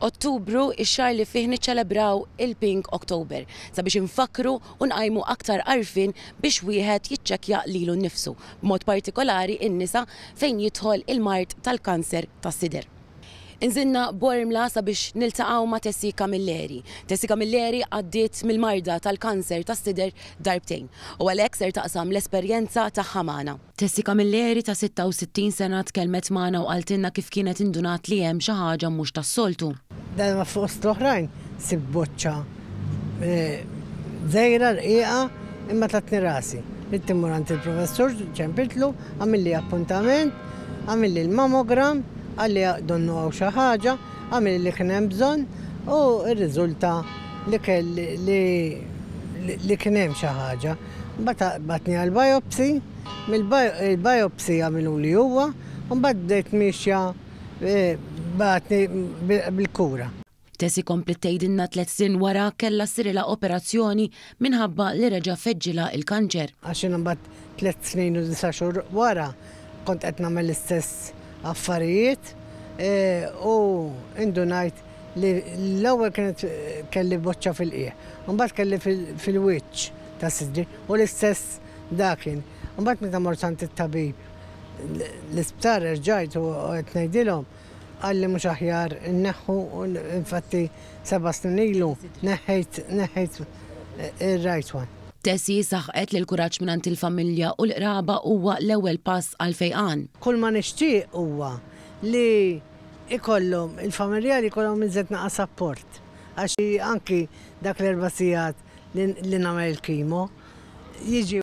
Ottubru, ix-xahar li fih niċċelebraw il-Pink October, sabiex infakkru u nqajmu aktar għarfien biex wieħed jiċċekkja lilu nnifsu, b'mod partikolari n-nisa fejn jidħol il-mard tal-kanser tas-sider. Inżilna Bormla sabiex niltaqgħu ma' Tessie Camilleri. Tessie Camilleri għaddiet mill-marda tal-kanser tas-sider darbtejn u għalhekk ser taqsam l-esperjenza tagħha magħna. Tessie Camilleri ta' 66 sena tkellmet magħna u qaltilna kif kienet indunat li hemm xi ħaġa mhux tas-soltu. Darba fost l-oħrajn sibt boċċa dgħira rqiqa imma tatni rasi. Ridt immur għand il-professur, ċempiltlu, għamilli appuntament, għamilli l-mammogram, qalli donnu hawn xi ħaġa, għamilli li kien hemm bżonn u rriżulta li kelli li kien hemm xi ħaġa. Mbagħad bagħatni għal biopsy, mill-biopsy għamiluli huwa u mbagħad bdejt miexja bagħatni bil-kura. Tessie kompliet tgħidilna tliet snin wara kellha ssirilha operazzjoni minħabba li reġa' feġġilha l-kanċer. Għax jiena mbagħad tliet snin u disa' xhur wara kont qed nagħmel l-istess affarijiet u indunajt li l-ewwel kienet kelli boċċa fil-qiegħ, imbagħad kelli fil-wiċċ ta' sidri u l-istess dakin. Imbagħad meta mort għand it-tabib l-isptar erġajt u qed ngħidilhom qalli mhux aħjar inneħħu u infatti seba' snin ilu neħħejt neħħejt ir-right one. Tessie saħqet li l-kuraġġ mingħand il-familja u l-qraba huwa l-ewwel pass għall-fejqan. Kull ma nixtieq huwa li ikollhom, il-familjari jkollhom iżjed naqas apport għax anki dak l-erba' sigħat li nagħmel il-kimo jiġi.